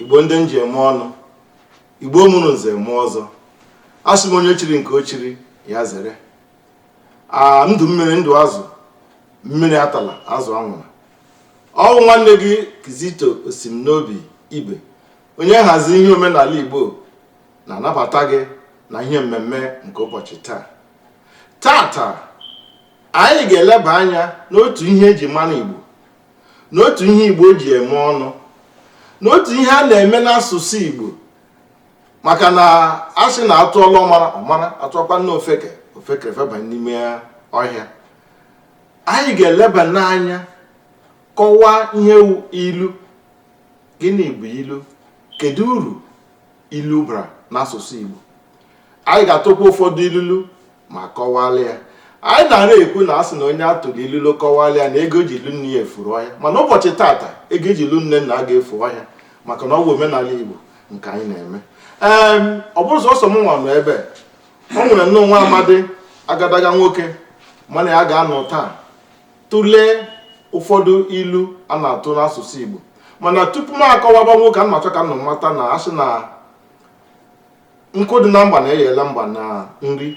igbo ndị m ji eme ọnụ igbo mụrụ nze mụọ ọzọ asị m onye chiri nke o chiri ya zere ndụ mmiri ndụ azụ mmiri atala azụ anwụla ọ wụ nwanne gị Kizito Osimnobi Ibe onye nhazi ihe omenala Igbo na-anabata gị na ihe mmemme nke ụbọchị taa tata anyị ga-eleba anya n'otu ihe e ji mara Igbo n'otu ihe Igbo ji eme ọnụ n'otu ihe a na-eme n'asụsụ Igbo maka na a sị na atụọla ọmara ọ mara atụọkwana ofeke ofeke feba n'ime ọhịa anyị ga-eleba n'anya kọwaa ihe wụ ilu gịnị bụ ilu kedu uru ilu bara n'asụsụ Igbo anyị ga-atụkwa ụfọdụ ilulu ma kọwalụ ya anyị na-ara ekwu na a sị na onye a tụrụ ilulu kọwalụ ya na ego e ji lụ nne ya efuru ọhịa mana ụbọchị tata ego e ji lụ nne nna a ga-efu ọhịa maka na ọ bụ omenala Igbo nke anyị na-eme ee ọ bụrọ sọsọ m nwa nọ ebe o nwere nnọọ nwa amadi agadaga nwoke mụ na ya ga-anọ taa tụlee ụfọdụ ilu a na-atụ n'asụsụ Igbo mana tupu m akọwaba nwoke a m na-achọ ka unu mata na a sị na nkụ dị na mba na-eyela mba na nri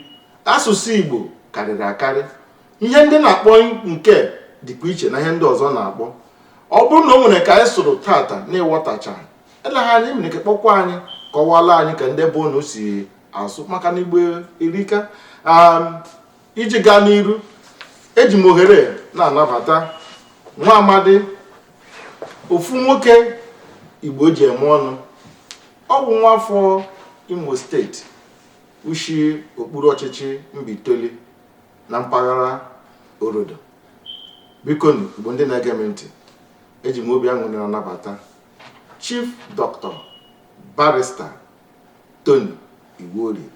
asụsụ Igbo karịrị akarị ihe ndị na-akpọ nke dịkwa iche na ihe ndị ọzọ na-akpọ ọ bụrụ na o nwere ka anyị sụrụ tata na ị ghọtacha eleghị anya ị nwere ike kpọkwa anyị kọwala anyị ka ndị be unu si asụ maka na igbo erika um, iji gaa n'iru eji m ohere na-anabata nwa amadi ofu nwoke igbo ji eme ọnụ ọ bụ nwa afọ imo state o shi okpuru ọchịchị mbaitoli na mpaghara orodo bikonụ igbo ndị na-ege m ntị eji m obi aṅụrị na-anabata Chief Doctor Barrister Tony Iwuorie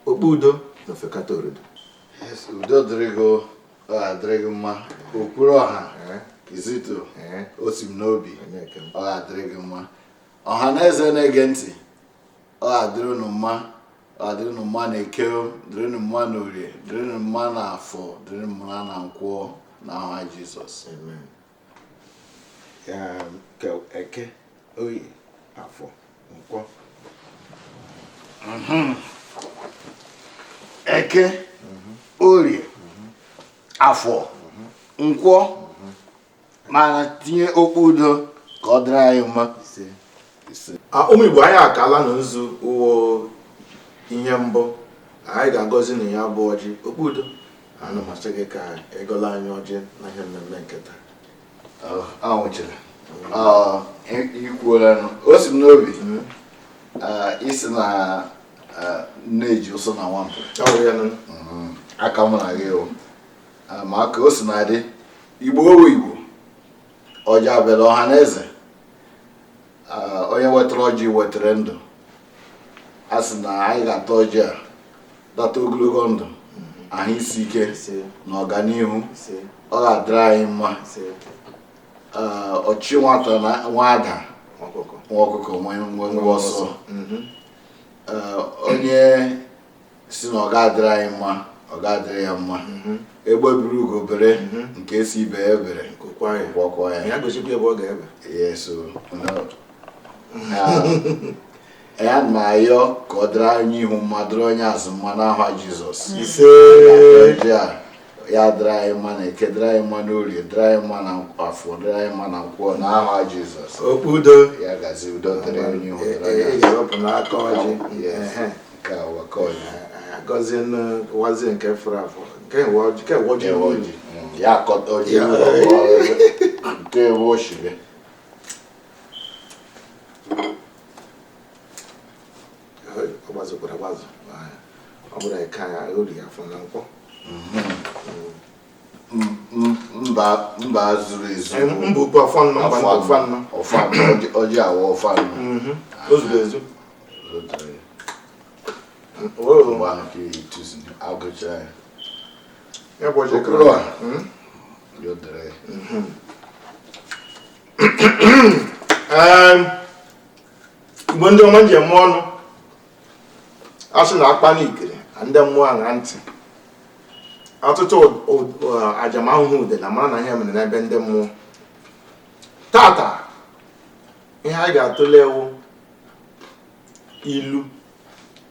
Okpudo n'Ofekata Orodo Yes, udo dịrị gị o, ọ ga-adịrị gị mma okwuru ọha Eh, kizito eh, osimnobi onye nke m. ọ ga-adịrị gị mma ọha na eze na-ege ntị ọ ga-adịrị unu mma ọ ga-adịrị unu mma na eke o, dịrị unu mma na orie dịrị unu mma na afọ dịrị unu mma na nkwọ na aha Jesus Amen. eke orie afọ nkwọ mhm. eke mhm. orie mhm. afọ nkwọ mana tinye okpu udo ka ọ dịrị anyị mma ụmụ Igbo anyị akaala na nzu ọ wụ ihe mbụ anyị ga-agọzi na ya bụ ọjị okpudo ana m asị gị ka ị gọọla anyị ọjị na ihe mmemme nke taa anwụchiri ikwuola o si m n'obi mm. isi na na-eji ụsọ na nwampụ mm-hmm. aka mụ na gị ma ka o si na-adị igbo wụ igbo ọjị abịala ọha na eze onye wetara ọjị wetara ndụ a sị na anyị ga-ata ọjị a tata ogologo ndụ ahụ isi ike na ọganihu ọ ga-adịrị anyị mma ọchụ nwata na-enwe ada nwa ọkụkọ nwe nwe ọsọ onye sị na ọ ga-adịrị anyị mma ọ ga-adịrị ya mma mhm. egbe bere ugo bere mhm. nke sị ibe ya ebele gwakwa ya ya gosikwa ebe ọ ga-ebe yes anyị na-ayọ ka ọ dịrị onye ihu mma dịrị onye azụ mma n'aha jizọs ise ya dịrị anyị mma na eke dịrị anyị mma n'orie dịrị anyị mma na afọ dịrị anyị mma na nkwọ na aha jizọs okpudo ya gazie udo dịrị onye ihu dịrị anyị agọzie nwazie nke fụrụ afọ nke ọjị mm, ya akọta ọjị nke ewu oshibe ọ gbazukwara agbazu ọ bụrụ eke ya orie afọ na nkwọ mm-hmm. mba zuru ezu ọjị awa ọfanụ mhm. ozuru ezu agụchara ya okpuru a hmm? yodere mhm. igbo ndị ọma njem ọnụ a sị na a kpaa n'ikiri ndị mmụọ aṅaa ntị ọtụtụ ajamahụhụ ude na mara na ihe mere n'ebe ndị mmụọ tata ihe anyị ga-atụle wụ ilu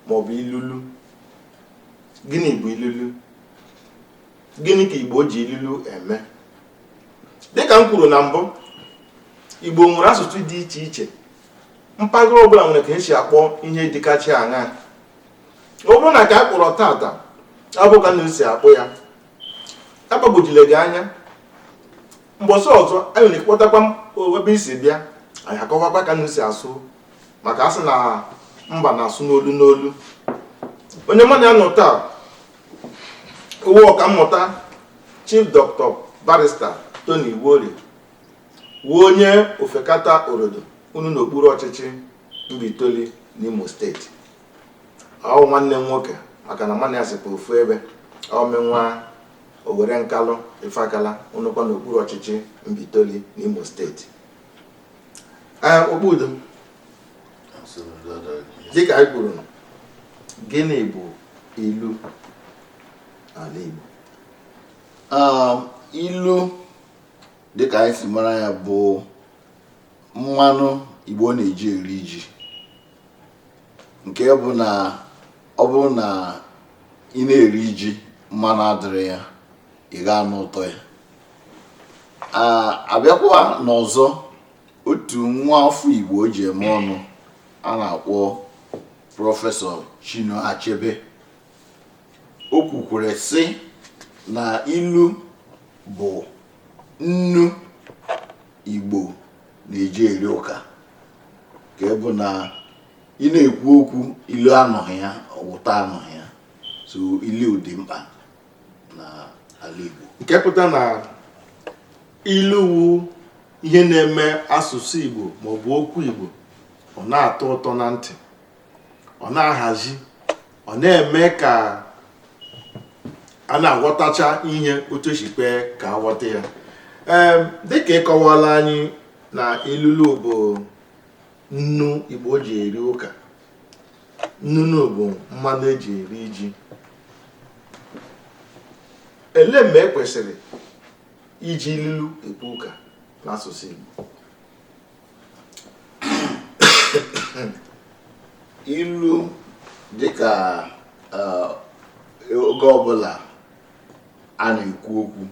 maọbụ ilulu gịnị bụ ilulu gịnị ka igbo ji ilulu eme dịka m kwuru na mbụ igbo nwere asụsụ dị iche iche mpaghara ọbụla nwere ka e si akpọ ihe dịkachi aṅa ọ bụrụ na ka a kpọrọ tata abụghị ka ụnụ si akpọ ya agbagwojile gị anya mbọsị ọzọ anyị nwere kpọtakwa ebe i si bịa anyị akọwakwa ka ụnụ si asụ maka a sị na mba na-asụ n'olu n'olu onye mụ na ya nọ taa wụ ọkammụta chief dọkịta barista Tony Iwuorie wụ onye Ofekata Orodo ọ nọ n'okpuru ọchịchị Mbaitoli n'Imo steeti ọ wụ nwanne m nwoke maka na mụ na ya sikwa ofu ebe ọmenwa Owere Nkalụ Ifakala ọ nọkwa n'okpuru ọchịchị Mbaitoli n'Imo steeti ee okpudo dịka anyị kwuru gịnị bụ ilu n'ala Igbo ilu dịka anyị si mara ya bụ mmanụ Igbo na-eji eri ji nke bụ na ọ bụrụ na ị na-eri ji mmanụ adịrị ya ị ga-anụ ụtọ ya a bịakwa n'ọzọ otu nwa afọ Igbo e ji eme ọnụ a na-akpọ prọfesọ Chinua Achebe o kwukwere sị na ilu bụ nnu Igbo na-eji eri ụka nke bụ na ị na-ekwu okwu ilu anọghị ya ọ wụ ụtọ anọghị ya so ilu dị mkpa n'ala Igbo nke pụta na ilu wu ihe na-eme asụsụ Igbo maọbụ okwu Igbo ọ na-atọ ụtọ na ntị ọ na-ahazi ọ na-eme ka a na-aghọtacha ihe otu e si kpee ka a ghọta ya Em, dịka ị kọwaala anyị na ilulu bụ nnu Igbo ji eri ụka ilulu bụ mmanụ e ji eri ji elee mgbe e kwesịrị iji ilulu ekwu ụka n'asụsụ Igbo ilu dịka eh, oge ọbụla a na-ekwu okwu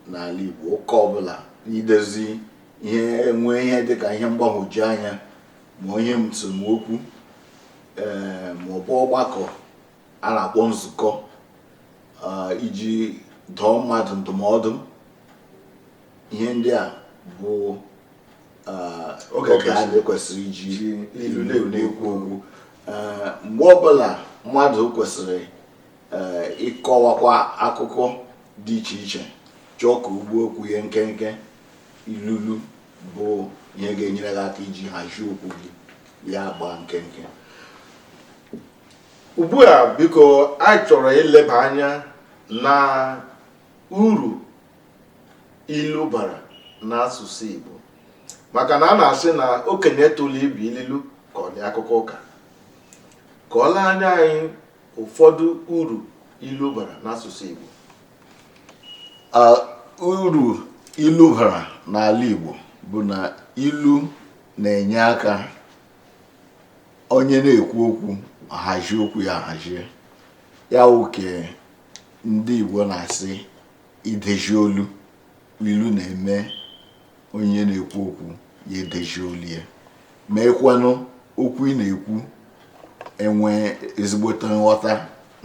n'ala Igbo ụka ọbụla idozi ihe nwee ihe dịka ihe mgbagwoju anya ma ihe nsemokwu ee eh, maọbụ ọgbakọ a na-akpọ nzukọ eh, iji dọọ mmadụ ndụmọdụ ihe ndị a bụ oge anyị kwesịrị iji ilu na-ekwu okwu mgbe ọbụla mmadụ kwesịrị ịkọwakwa akụkọ dị iche iche chọọ ka o gbuo okwu ya nkenke ilulu bụ ihe ga-enyere gị aka iji hazie okwu gị ya gbaa nkenke ugbu a biko anyị chọrọ ileba anya na uru ilu bara n'asụsụ Igbo maka na a na-asị na okenye tụlụ ibu ililu ka ọ dị akụkọ ụka kọwala anyị ụfọdụ uru ilu bara n'asụsụ Igbo uru ilu bara n'ala Igbo bụ na ilu na-enye aka onye na-ekwu okwu ahazi okwu ya ahazie ya wụ nke ndị Igbo na-asị ideji olu ilu na-eme onye na-ekwu okwu ya edeji olu ya meekwanụ okwu ị na-ekwu enwe ezigbote nghọta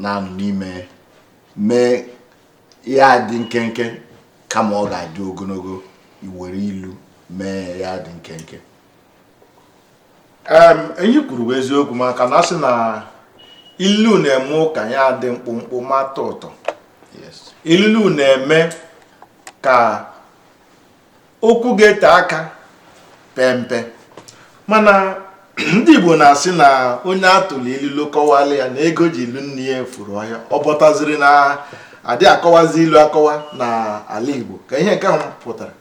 na-anụ n'ime mee ya adị nkenke kama ọ ga-adị ogologo i were ilu mee ya adị nkenke ihe i kwuru bụ eziokwu maka na a sị na ililu na-eme ụka ya dị mkpụmkpụ ma tọ ụtọ ililu na-eme ka okwu ga-ete aka pempe mana ndị Igbo na-asị na onye a tụrụ ililu kọwala ya na ego e ji lụ nne ya furu ọhịa ọ pụtaziri na adị akọwazi ilu akọwa na ala Igbo ka ihe nke ahụ pụtara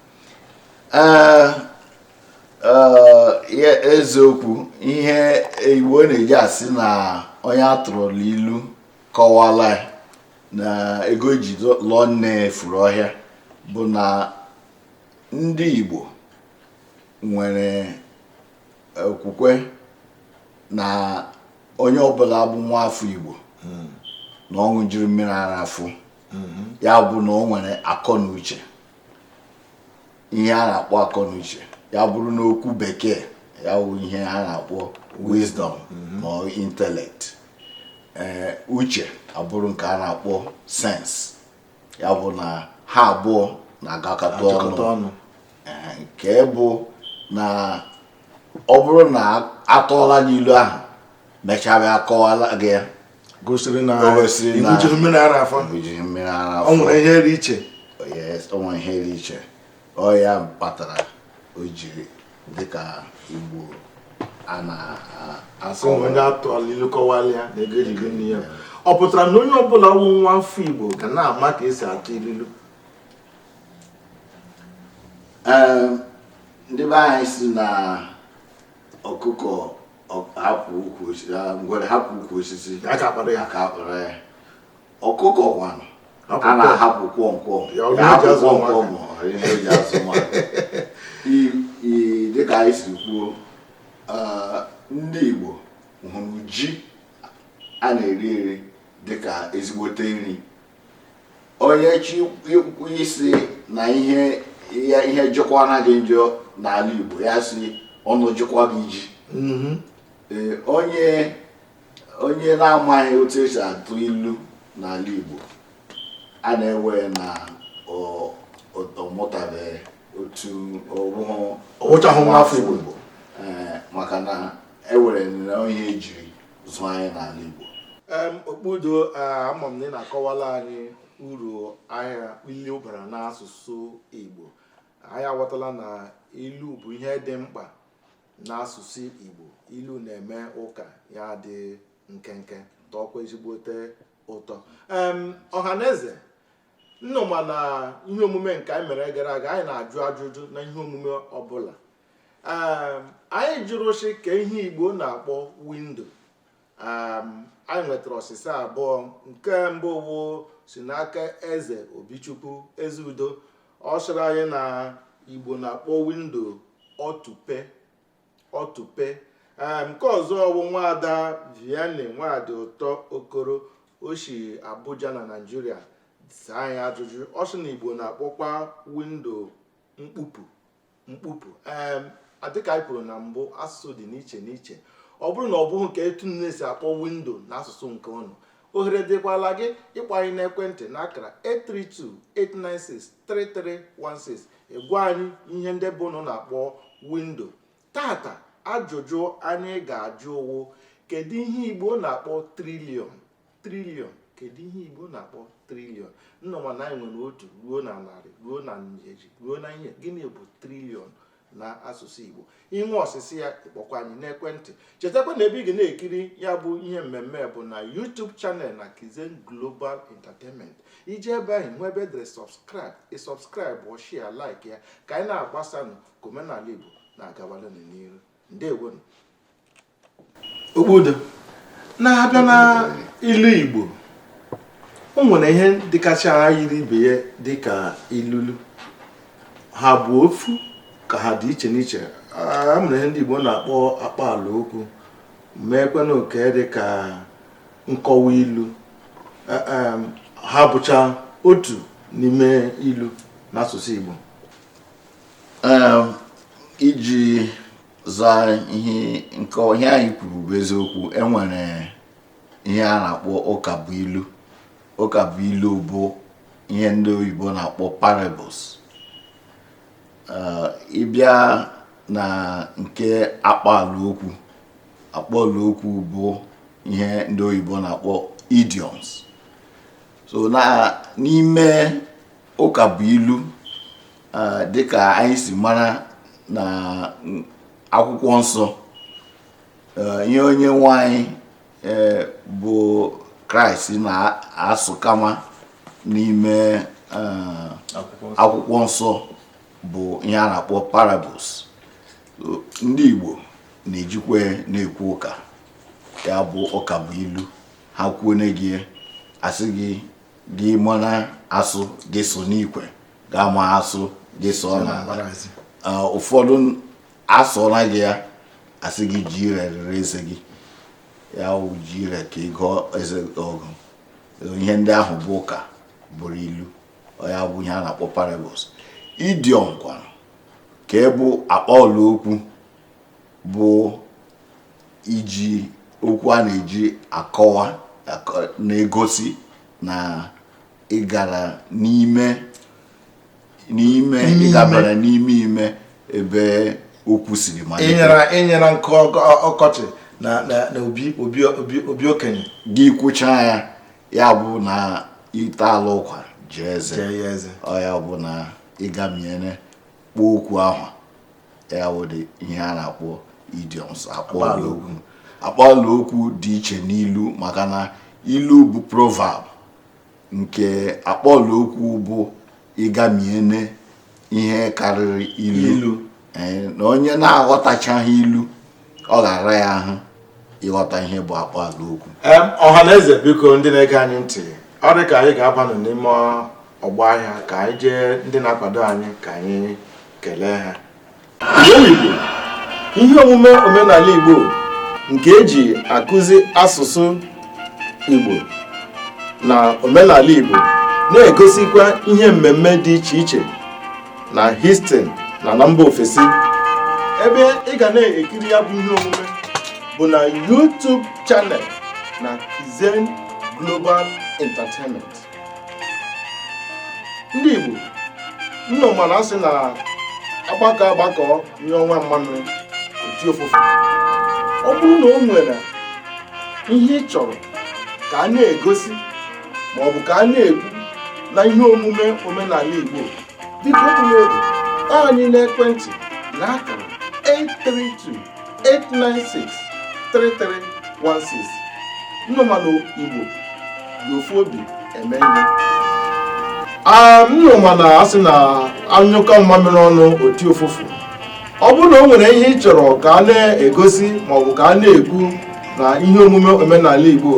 ee eziokwu ihe igbo na-eji asị na onye a tụrụla ilu kọwala na ego e ji lụọ nne furu ọhịa bụ na ndị igbo nwere okwukwe na onye ọbụla bụ nwa afọ igbo hmm. na ọ ṅụjiri mmiri ara afọ hmm. ya bụ na o nwere akọ na uche ihe a na-akpọ akọnuche ya bụrụ n'okwu bekee ya wụ ihe a na-akpọ wisdom ma ọ intellect ee uche abụrụ nke a na-akpọ sense ya bụ na ha abụọ na-agakọta Achịkọta ọnụ ọnụ Ee, nke bụ na ọ bụrụ na a tụọla gị ilu ahụ mechaa bịa kọwala gị ya gosiri na ị ṅụjighị mmiri ara afọ o nwere ihe dị iche o nwere ihe dị iche ọ ya kpatara o jiri dịka igbo a na-asị onye a tụ ilu kọwala ya na ego e ji gọ nne ya ọ pụtara na onye ọbụla wụ nwa afọ igbo ga na-ama ka e si atụ ililu ndị be anyị sị na ọkụkọ hapụ ukwu osisi ngwere hapụ ukwu osisi aka akpara ya aka akpara ya ọkụkọ kwanụ a na-ahapụ kwọmkwọm ya hapụ kwọmkwọm ma ihe o ji azụ nwa dịka anyị si kwuo ndị Igbo hụrụ ji a na-eri eri dịka ezigbote nri onye chi ikwu isi na ihe ihe ihe jụkwa anaghị njọ n'ala Igbo ya si ọnụ jụkwa gị ji mhm. ee onye onye na-amaghị otu esi atụ ilu n'ala Igbo a na-ewere na ọ mụtabeghị otu ọ wụchahụ nwa afọ Igbo maka na ewere na ihe ejiri zụọ anyị n'ala Igbo okpudo ama m na ị na-akọwala anyị uru ahịa ilu bara n'asụsụ Igbo anyị aghọtala na ilu bụ ihe dị mkpa n'asụsụ Igbo ilu na-eme ụka ya dị nkenke tọọkwa ezigbote ụtọ ọha na eze ụnụ ma na ihe omume nke anyị mere gara aga anyị na-ajụ ajụjụ na ihe omume ọbụla um, anyị jụrụ sị kee ihe Igbo na-akpọ windo um, anyị nwetara ọsịsa abụọ nke mbụ wụ si n'aka eze Obichukwu Ezeudo ọ sịrị anyị na Igbo na-akpọ windo ọtụpe ọtụpe um, nke ọzọ wụ nwaada Vianney Nwadịụtọ Okoro o si Abuja na Naịjirịa saa anyị ajụjụ ọ sị na Igbo na-akpọkwa windo mkpupu mkpupu dịka anyị kwuru na mbụ asụsụ dị n'iche n'iche ọ bụrụ na ọ bụghị nke etu ụnụ si akpọ windo na asụsụ nke ụnụ ohere dịkwala gị ịkpọ anyị n'ekwentị na akara 832-896-3316 ịgwa anyị ihe ndị be ụnụ na-akpọ windo taata ajụjụ anyị ga-ajụ wụ kedu ihe igbo na-akpọ triliọn triliọn kedu ihe igbo na-akpọ triliọn ụnụ ma na anyị nwere otu ruo na narị ruo na ijeri ruo na ihe gịnị bụ triliọn na asụsụ igbo i nwee ọsịsa ya ị kpọọkwa anyị n'ekwentị chetakwa na ebe ị ga na-ekiri ya bụ ihe mmemme bụ na YouTube channel na Kizen Global Entertainment i jee ebe ahụ o nwe ebe edere subscribe ị subscribe ọ share like ya ka anyị na-agbasanụ ka omenala igbo na-agawalụ n'iru ndewo nụ okpudo na-abịa na ilu igbo o nwere ihe dịkacha yiri ibe ya dịka ilulu ha bụ ofu ka ha dị iche n'iche o nwere ihe ndị igbo na-akpọ akpaalaokwu nweekwanụ nke dịka nkọwa ilu e, e, ha bụcha otu n'ime ilu n'asụsụ igbo iji zaa ihe anyị kwuru bụ eziokwu enwere ihe a na-akpọ ụka bụ ilu ụka bụ ilu bụ ihe ndị oyibo na-akpọ parables eh, ịbịa na nke akpaala okwu akpaala okwu bụ ihe ndị oyibo na-akpọ idioms so n'ime ụka bụ ilu dịka anyị si mara na akwụkwọ nsọ ihe onye nwe anyị bụ kraịst na-asụ kama n'ime akwụkwọ nsọ bụ ihe a na-akpọ parables ndị igbo na-ejikwa na-ekwu ụka ya bụ ụka bụ ilu ha kwuo na gị a sị gị gị mara asụ gị sụọ n'ikwe gị ama asụ gị sụọ n'ala ụfọdụ asụọla gị ya a sị gị ji ire rere eze gị ya wụ ji ire nke gị gụọ eze ọgụ ihe ndị ahụ bụ ụka bụrụ ilu ya bụ ihe a na-akpọ parables idiom kwara nke bụ akpaala okwu bụ iji okwu a na-eji akọwa na-egosi na ịgara n'ime n'ime ịgabara n'ime ime ebe okwu siri malite ịnyara nkụ ọkọchị na obi okenye gị kwuchaa ya ya bụ na ị taala ụkwa jaa eze ọ ya bụ na ịgamiene kpọọ okwu ahụ ya wụ ụdị ihe a na-akpọ idioms akpaala okwu akpaala okwu dị iche n'ilu maka na ilu bụ proverb nke akpaala okwu bụ ịgamiene ihe karịrị ilu eh, na onye na-aghọtachaghị ilu ọ ga-ara ya ahụ ịghọta ihe bụ akpaala okwu ọha na eze biko ndị na-ege anyị ntị ọ dị ka anyị ga-abanụ n'ime ọgbọ ahịa ka anyị jee ndị na-akwado anyị ka anyị kelee ha Igbo ihe omume omenala Igbo nke eji akụzi asụsụ Igbo na omenala Igbo na-egosikwa ihe mmemme dị iche iche na Houston na na mba ofesi ebe ị ga na-ekiri ya bụ ihe omume bụ na YouTube channel na Kizen Global Entertainment ndị Igbo nnụ ma na asị na agbakọ agbakọ nye ọnwa mmanụ oti ofufe ọ bụrụ na o nwere ihe ị chọrọ ka a na-egosi ma ọ bụ ka a na-ekwu na ihe omume omenala Igbo biko egbula oge ịkpọ anyị n'ekwentị na akara 832 nnụ ma na igbo ji ofu obi eme ihe nnụ ma na asị na anyụkọ mmamịrị ọnụ o ti ụfụfụ ọ bụrụ na o nwere ihe ị chọrọ ka a na-egosi maọbụ ka a na-ekwu na ihe omume omenala igbo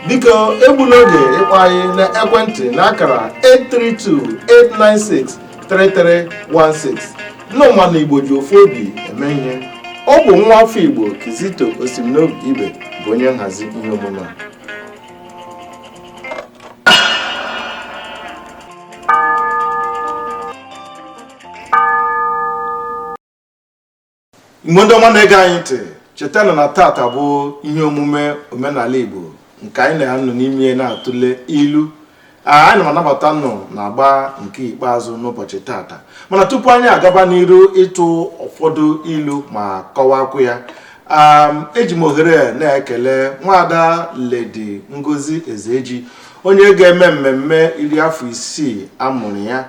biko egbula oge ịkpọ anyị na ekwentị na akara 832 896 3316 Nnụ ma na Igbo ji ofu obi eme ihe ọ bụ nwa afọ Igbo Kizito Osimnobi Ibe bụ onye nhazi ihe omume a igbo ndị ọma na-ege anyị ntị chetanụ na tata bụ ihe omume omenala igbo nke anyị na-anọ n'ime na-atụle ilu anyị na-anabata nnụ n'agba nke ikpeazụ n'ụbọchị tata mana tupu anyị agaba n'iru ịtụ ụfọdụ ilu ma kọwakwu ya eji m ohere na-ekele nwaada ledi ngozi ezeji onye ga-eme mmemme iri afọ isii amụrụ ya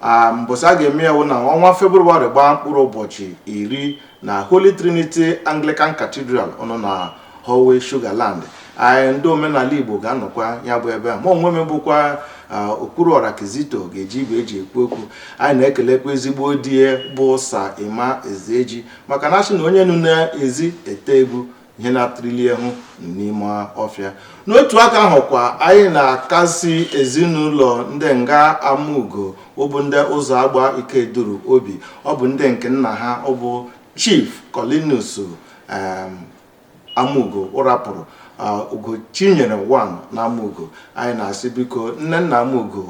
a mbọsị a ga-eme ya wụ na ọnwa febrụwarị gbaa mkpụrụ ụbọchị iri na holy trinity anglican cathedral ọ nọ na howell sugarland anyị ndị omenala igbo ga-anọkwa ya bụ ebe mụ onwe m bụkwa ah, okwuruọra kizito ga-eji igwe eji ekwu okwu anyị na-ekelekwa ezigbo di ya bụ sa emma ezeji maka na asị na onye nọ n'ezi ete egwu ihe na-etiri ya ahụ nọ n'ime ọfịa n'otu aka ahụ kwa anyị na-akasi ezinụlọ ndị nga amaugo ọ bụ ndị ụzọagba ikeduru obi ọ bụ ndị nke nna ha ọ bụ chief Colinus amaugo ọ rapụrụ ugochinyere wan na amaugo anyị na-asị biko nnenna amaugo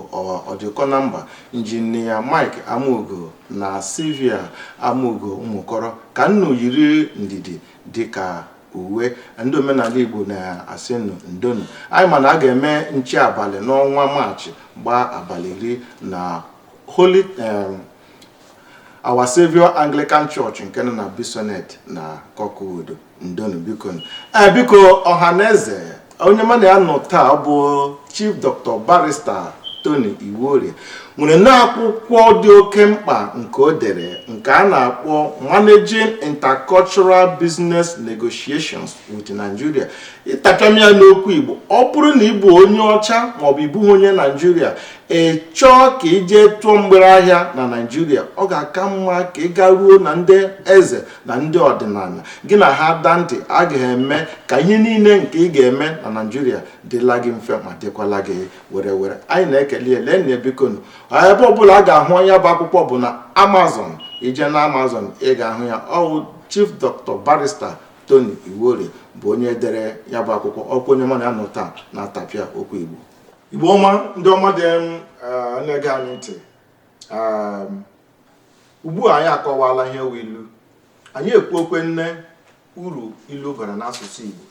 ọdịkọnamba injinia mike amaugo na sylvia amaugo umukoro ka nnu yiri ndidi dịka uwe ndị omenala Igbo na-asị nụ ndonụ anyị ma na a ga-eme nche abalị n'ọnwa Maachị gbaa abalị iri na Holy em, Our Saviour Anglican Church nke nọ na Bissonnet na Kirkwood ndonụ biko ee biko ọha na eze onye mụ na ya nọ taa bụ Chief Dr. Barrister Tony Iwuorie nwere n'akwụkwọ dị oke mkpa nke o dere nke a na-akpọ Managing Intercultural Business Negotiations with Nigeria ị tapịama ya n'okwu Igbo ọ bụrụ na ị bụ onye ọcha maọbụ ị bụ onye Naijiria ị chọọ ka ị jee tụọ mgbere ahịa na Naijiria ọ ga-aka mma ka ị garuo na ndị eze na ndị ọdịnala gị na ha daa ntị a ga-eme ka ihe niile nke ị ga-eme na naijiria dịla gị mfe ma dịkwala gị were were anyị na-ekele ya lee nne bikonu ebe ọbụla a ga-ahụ ya bụ akwụkwọ bụ na amazon i jee na amazon ị ga-ahụ ya ọ wụ chief dr barrister tony iwuorie bụ onye dere ya bụ akwụkwọ ọkwa onye mụ na ya nọ taa na-atapịa okwu igbo igbo ọma ndị ọma ndị na-ege anyị ntị ugbu a anyị akọwala ihe wụ ilu anyị ekwuokwe nne uru ilu bara n'asụsụ Igbo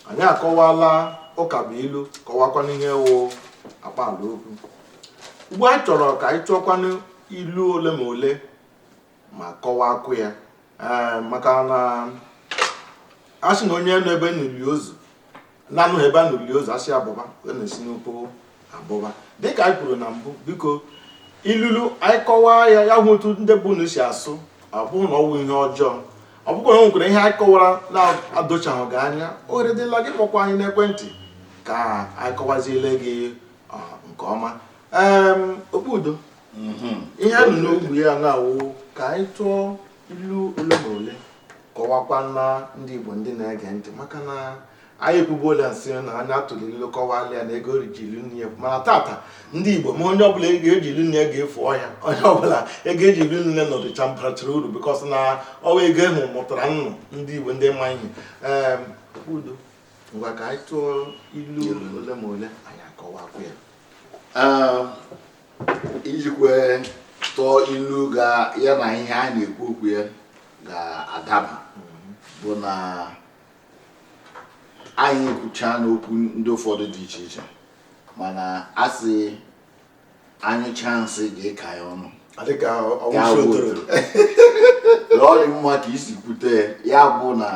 anyị akọwala ụka bụ ilu kọwakwanụ ihe wụ akpaala okwu ugbu a anyị chọrọ ka anyị tụọkwanụ ilu ole ma ole ma kọwakwuo ya ee maka na a sị na onye nọ ebe a na-eli ozu na-anọghị ebe a na-eli ozu a sị ya bọba ọ na-esi n'ụkwụ abọba dịka anyị kwuru na mbụ biko ilulu anyị kọwaa ya ya hụ otu ndị be unu si asụ ọ bụrụ na ọ wụ ihe ọjọọ ọ bụkwa na o nwekwara ihe anyị kọwara na-adochaghị gị anya ohere dịla gị kpọkwa anyị n'ekwentị ka anyị kọwaziele gị nke ọma Em, okpudo ihe a nọ n'okwu ya na-awụ ka anyị tụọ ilu ole ma ole kọwakwa na ndị Igbo ndị na-ege ntị maka na anyị ekwubuola sị na onye a tụrụ ilu kọwala ya na ego e ji lụ nne ya mana tata ndị Igbo ma onye ọbụla ego e ji lụ nne ya ga-efu ọhịa onye ọbụla ego e ji lụ nne nọdụcha barachara uru because na ọ wụ ego ahụ mụtara unu ndị Igbo ndị ma ihe okpudo ngwa ka anyị tụọ ilu ole ma ole anyị akọwakwa ya ijikwe tụọ ilu ga ya na ihe a na-ekwu okwu ya ga-adaba bụ na anyị kwucha n'okwu ndị ụfọdụ dị iche iche mana a sị a nyụchaa nsị ghara ịka ya ọnụ dịka ọ wụ nsị otoro ọ dị mma ka i si kwute ya bụ na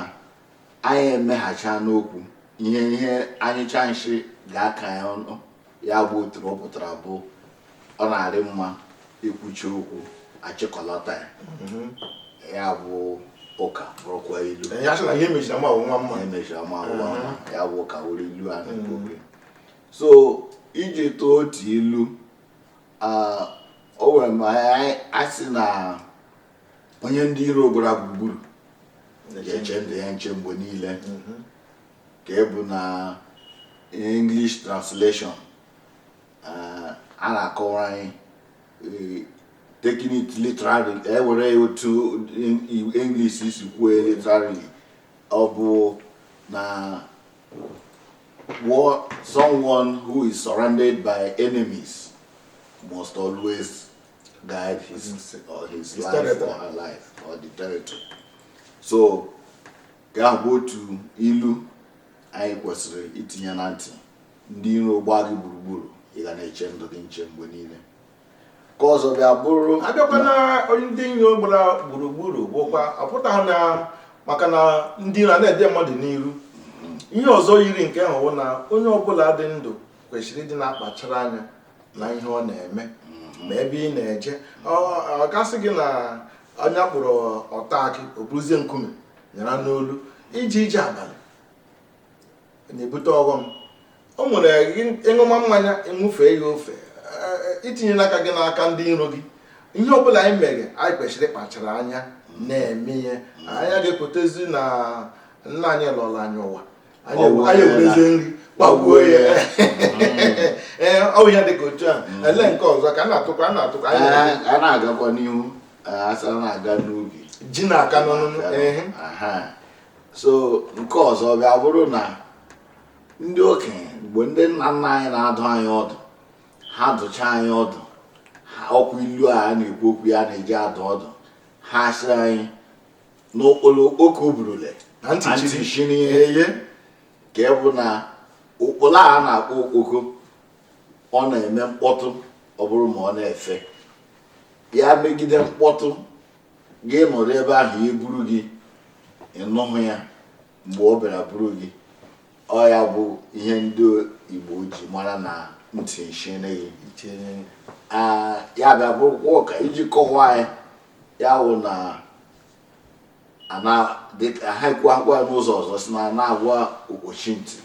anyị emeghacha n'okwu ihe ihe a nyụchaa nsị ga-aka ya ọnụ ya bụ otu na ọ pụtara bụ ọ na-adị mma e kwuchaa okwu a chịkọlata ya mhm. ya bụ ụka bụrụkwa ilu ya sị na ihe mechiri ama nwa mma emechiri ama nwa mma ya bụ ụka wụrụ ilu a na-ekwu so iji tụọ otu ilu o nwere ma a sị na onye ndị iro gbara gburugburu ga-eche ndụ ya nche mgbe niile mhm. nke bụ na English translation eh, a na-akọwara anyị eh, taking it literally e were ya otu English si kwuo literally ọ bụ na someone who is surrounded by enemies must always guide his, or his, his life or her life or the territory. So nke ahụ bụ otu ilu anyị kwesịrị itinye na ntị ndị iro gbaa gị gburugburu ị ga na-eche ndụ gị nche mgbe niile nke ọzọ bịa bụrụ a bịakwa na onye ndị iro gbara gburugburu bụkwa ọ pụtaghị na maka na ndị iro na-ede mmadụ n'iru mm-hmm. ihe ọzọ yiri nke ahụ bụ na onye ọbụla dị ndụ kwesịrị ịdị na-akpachara anya na ihe ọ na-eme mm-hmm. ma ebe ị na-eje ọ ga-asị gị na onye a kpọrọ ọta akị o buruzie nkume nyara n'olu ije ije abalị na-ebute ọghọm o nwere ị ṅụma mmanya ị ṅụfee ya ofe e, i tinye n'aka gị n'aka ndị iro gị ihe ọbụla anyị mere anyị kwesịrị ịkpachara anya na-eme ihe anyị ga-ekwetezi na nna anyị lọrọ anyị ụwa anyị ewerezie nri gbagbuo ya ee ọ bụ ihe dị ka otu a e lee nke ọzọ ka a na-atụkwa a na-atụkwa anyị na- a na-agakwa n'ihu a sị a na-aga n'ubi ji na-aka n'ọnụnụ ehe Aha. so nke ọzọ ga-abụrụ na ndị okenye mgbe ndị nna nna anyị na-adụ anyị ọdụ ha dụcha anyị ọdụ ha ọ kwa ilu a a na-ekwu okwu ya na-eji adụ ọdụ ha sị anyị n'ụkpala okpoko burule na ntị chiri ya nke bụ na ụkpala a na-akpọ okpoko ọ na-eme mkpọtụ ọ bụrụ ma ọ na-efe ya megide mkpọtụ gị nọrọ ebe ahụ ya eburu gị ị nụhụ ya mgbe ọ bịara buru gị ọ ya bụ ihe ndị Igbo ji mara na ntị chiri gị ya bịa bụrụkwa ka e ji kọwaa ya ya wụ na ha ekwuokwa n'ụzọ ọzọ sị na a na-agwa okpochi ntị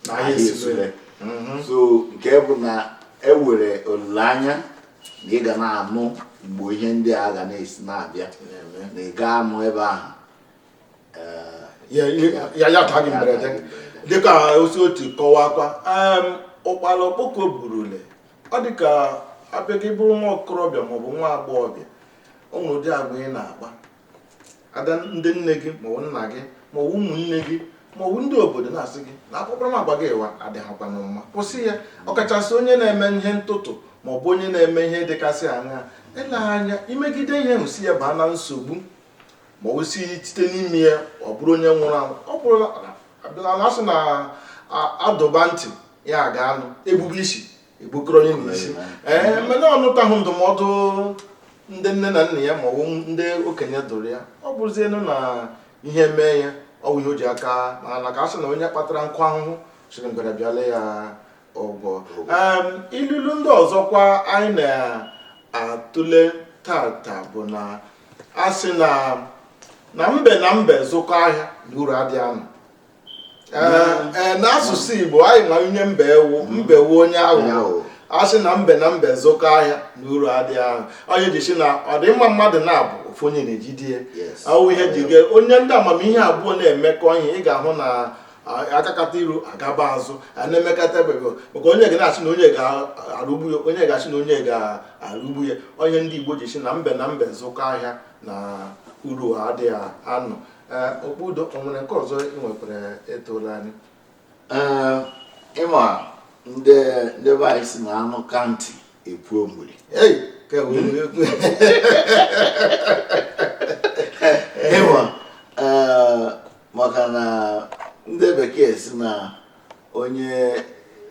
na ahịa esule mhm. so nke bụ na e nwere olileanya na ị ga na-anụ mgbe ihe ndị a ga na-esi na-abịa na ị gaa anọ ebe ahụ ya ya taa gị mberede dịka o si otu kọwakwa ụkpala okpoko burule ọ dị ka abịa gị bụrụ nwa okorobịa maọbụ nwa agbọghọbịa o nwere ụdị agwa ị na-akpa ada ndị nne gị maọbụ nna gị maọbụ ụmụnne gị maọbụ ndị obodo na-asị gị na akparamagwa gị ịwa adịghịkwanụ mma kwụsị ya ọkachasị onye na-eme ihe ntụtụ maọbụ onye na-eme ihe dịgasị aṅa ele anya imegide ihe ahụ si ya baa na nsogbu ma ọ si site n'ime ya ọ bụrụ onye nwụrụ anwụ ọ bụrụla abịala na a sị na a dụba ntị ya aga anụ e gbube isi e gbukọrọ onye n'isi ee eh, mana ọ nụtaghị ndụmọdụ ndị nne na nna ya maọbụ ndị okenye dụrụ ya ọ bụrụzienụ na ihe mee ya ọ bụ ihe o ji aka mana ka a sị na onye kpatara nkụ ahụhụ siri ngwere bịala ya ụgwọ ilulu ndị ọzọkwa anyị na-atụle tata bụ na a sị na mbe na mbe zụkọ ahịa na uru adịghị anọ n'asụsụ Igbo anyị ma onye mbe wu mbe wu onye aghụghọ a sị na mbe na mbe zụkọ ahịa na uru adịghị anọ onye ji si na ọ dị mma mmadụ na-abụ ofu onye na-ejide ya awụ ihe ji gị onye ndị amamihe abụọ na-emekọ ihe ị ga-ahụ na a gakata iru a gaba azụ a na-emekata ebego maka onye ga na-asị na onye ga-arụgbu ya onye ga-asị na onye ga-arụgbu ya onye ndị Igbo ji si na mbe na mbe zụkọ ahịa na uru adịghị anọ okpudo o nwere nke ọzọ ị nwekwara etola anyị ịma ndị ndị be anyị si na anụ ka ntị epuo mmiri ịma maka na ndị bekee si na onye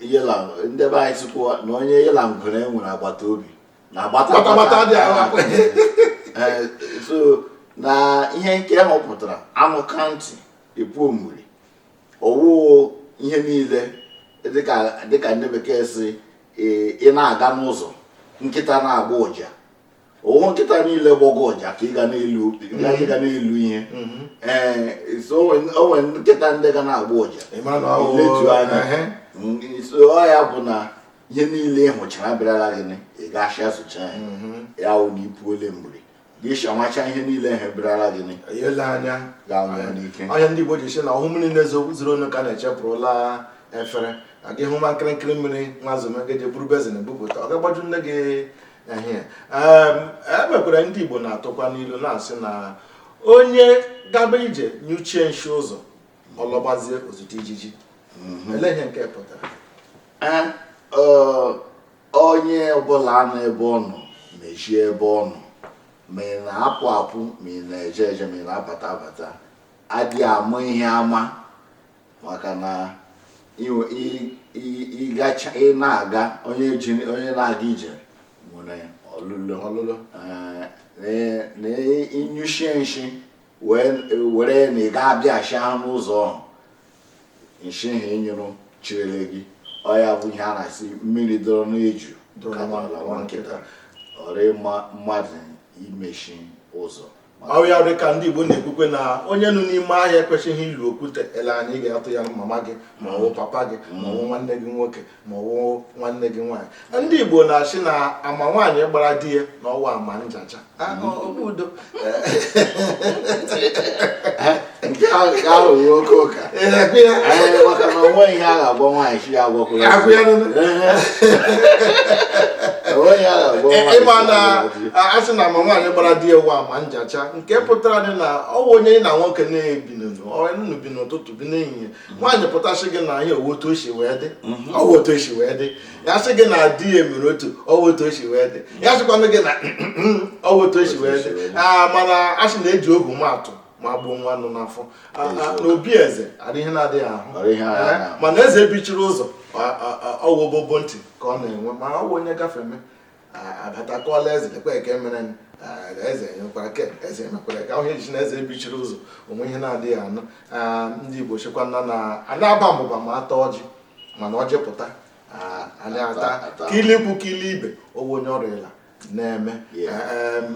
ndị be anyị sikwa na onye yela ngwere nwere agbata obi na gbatagbata dị agha eh, so na ihe nke ahụ pụtara anụ ka ntị epu omuri ọwụ ihe niile dịka ndị bekee si eh, ị na-aga n'ụzọ nkịta na-agbọ ụja ọwụ nkịta niile gbọgọ ụja ka ị ga na-elu ị ga na-elu ihe mm-hmm. ee eh, o nwere nkịta ndị ga na-agbọ ụja i letu anya mm, so ọ ya bụ na ihe niile ị hụchara abịarala gị ị ga-asị asụcha ya mhm. ya wụ na ipu ole mgbiri gị shamacha ihe niile ha ebirala gị ele anya ga-anwụ n'ike onye ndị Igbo ji si na ọwụ mmiri na-ezo zuru onu ka na-echepụrụla efere na gị hụ nwa nkịrịnkịrị mmiri nwa zowe gị je buru bezin bupụta ọ ga-agbaju nne gị ehie emekwara e ndị Igbo na-atụkwa n'ilu na-asị na onye gaba ije nyuchie nshi ụzọ ọ lọbazie o zute ijiji mhm. ele ihe nke pụtara onye ọbụla nọ ebe ọ nọ mezie ebe ọ nọ ma ị na-apụ apụ ma ị na-eje eje ma ị na-abata abata adịghị ama ihe ama maka na ị na-aga onye na-aga ije nwere ọlịla na ị nyụchie nshi were na ị ga-abịachi ahụ n'ụzọ ahụ nshi ahụ ị nyụrụ cherele gị ọ ya bụ ihe a na-asị mmiri dọrọ n'eju kabala nwa nkịta ọ dịghị mma mmadụ imechi ụzọ ọ wụ ya dị ka ndị Igbo na-ekwukwe na onye nọ n'ime ahịa ekwesịghị ịlụ okwute eleghị anya ị ga-atụ ya mama gị ma ọ bụ papa gị ma ọ bụ nwanne gị nwoke ma ọ wụ nwanne gị nwaanyị ndị Igbo na-asị na ama nwaanyị gbara di ya na ọ wụ ama njacha okpudo nke ahụ ga-aghọwo oke ụka maka na o nwere ihe a ga-agwa nwaanyị chi ya agwakwụrụ ị ma na a sị na ama nwaanyị gbara di ya wụ ama njacha nke pụtara dị na ọ bụ onye ya na nwoke na-ebi n'ụlọ bi n'ụtụtụ bi n'ehihie nwaanyị pụta sị gị na ihe ọ wụ otu o si wee dị mhm. ọ wụ otu o si wee dị ya sị gị na di ya mere otu a ọ wụ otu o si wee dị ya sịkwanụ gị na ọ wụ otu o si wee dị ah, mana a sị na-eji ọgwụ ama atụ ma gbuo nwa nọ n'afọ ah, ah, n'obi eze adịghị ihe na-adịghị ahụ eh, mana eze bichiri ụzọ ọ wụ obobo ntị ka ọ na-enwe ma ọ wụ onye gafeme abata kọọra eze lekwa nke mere eze nyekwara ke eze mekwara ka ahụ eji na eze bichiri ụzọ o nweghị ihe ọ na-adịghị anụ ndị igbo sịkwa na anyị aba mbụba ma ata ọjị mana ọjị pụta anyị ata kili ikwu kili ibe ọ wụ onye ọrịa ịla na-eme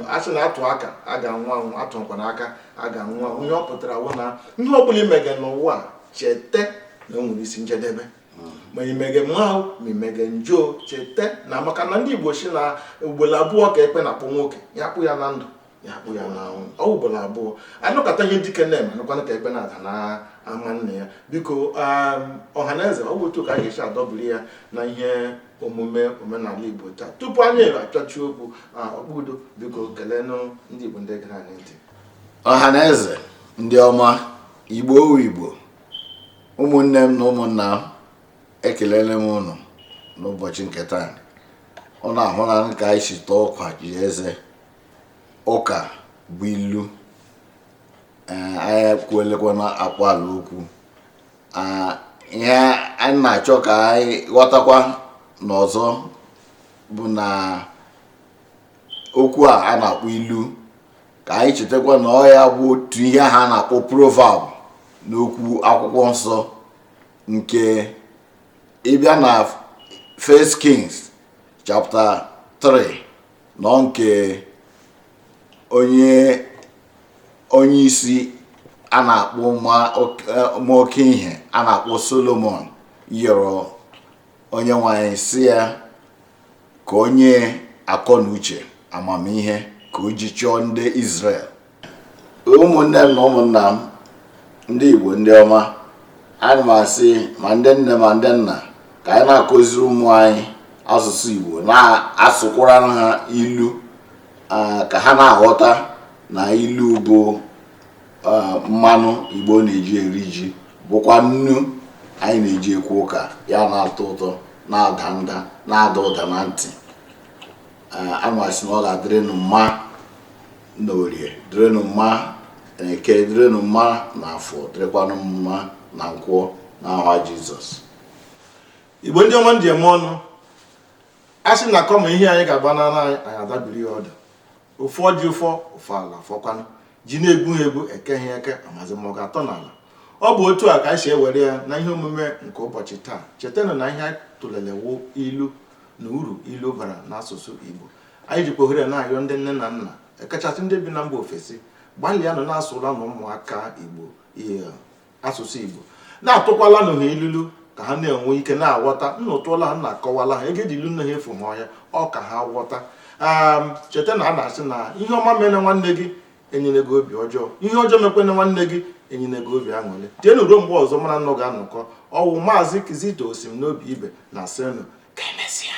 a sị na atụ aka a ga-anwụ anwụ atụkwana aka a ga-anwụ anwụ ihe ọ pụtara wụ na ihe ọ bụla i mege n'ụwa cheta na o nwere isi njedebe ma i mege mma o ma i mege njọ cheta na maka na ndị igbo si na ugboro abụọ ka ekpe na-akpọ nwoke ya kpọọ ya na ndụ ya kpọọ ya n'ọnwụ ọ wụ ugboro abụọ a nụkata ihe dike na-eme a nụkwanụ ka ekpe na-ada na ama nna ya biko um, ọha na eze ọ bụ otu ka a ga-esi adọbiri ya na ihe omume omenala igbo taa tupu anyị achọchi okwu okpudo biko kelenụ ndị igbo ndị gere anyị ntị ọha na eze ndị ọma igbo wụ igbo ụmụnne m na ụmụnna m ekelele m ụnụ n'ụbọchị nke taa ụnụ ahụla ka anyị si tọọ ụkwa ji eze ụka bụ ilu anyị kwuelekwana akpaala okwu ihe anyị na-achọ ka anyị ghọtakwanụ ọzọ bụ na okwu a a na-akpọ ilu ka anyị chetakwa na ọ ya bụ otu ihe ha na-akpọ proverb n'okwu akwụkwọ nsọ nke ị bịa na First Kings chapter 3 nọ nke onye onye isi a na-akpọ ma oke ihe a na-akpọ Solomon yọrọ Onyenwe anyị sị ya ka o nye akọ na uche amamihe ka o ji chọọ ndị Izrel ụmụnne m na ụmụnna m ndị Igbo ndị ọma ana m asị ma ndị nne ma ndị nna ka anyị na-akụziri ụmụ anyị asụsụ Igbo na-asụkwara ha ilu ka ha na-aghọta na ilu bụ mmanụ igbo na-eji eri ji bụkwa nnu anyị na-eji ekwu ụka ya na-atọ ụtọ na-ada nda na-ada ụda na ntị ana m asị na ọ ga-adịrịnụ mma na orie dịrịnụ mma na eke dịrịnụ mma na afọ dịrịkwanụ mma na nkwọ na aha jizọs igbo ndị ọma m ji eme ọnụ a sị na kama ehi anyị ga-agbanala anyị anyị adọbiri ya ọdụ ọ fọ ji ụfọ ọ fọ ala fọkwanụ ji na-egwughị egwu ekeghị eke amazi ma ọ ga-atọ n'ala ọ bụ otu a ka anyị si ewere ya na ihe omume nke ụbọchị taa chetanụ na ihe a tụlele wụ ilu na uru ilu bara n'asụsụ Igbo anyị jikwa ohere na-ayọ ndị nne na nna ekachasị ndị bi na mba ofesi gbalịanụ na-asụlanụ ụmụaka Igbo ihe asụsụ Igbo na-atụkwalanụ ha ilulu ka ha na-enwe ike na-aghọta ụnụ tụọla ha ụnụ akọwala ha ego e ji lụ nne ha efughị ọhịa ọ ka ha ghọta ehm, cheta na a na-asị na ihe ọma mene nwanne gị enyene gị obi ọjọọ ihe ọjọọ mekwene nwanne gị enyene gị obi aṅụrị tienụ ruo mgbe ọzọ mụ na ụnụ ga-anọkọ ọ wụ maazị kizito osim n'obi ibe na-asị ụnụ ka emesịa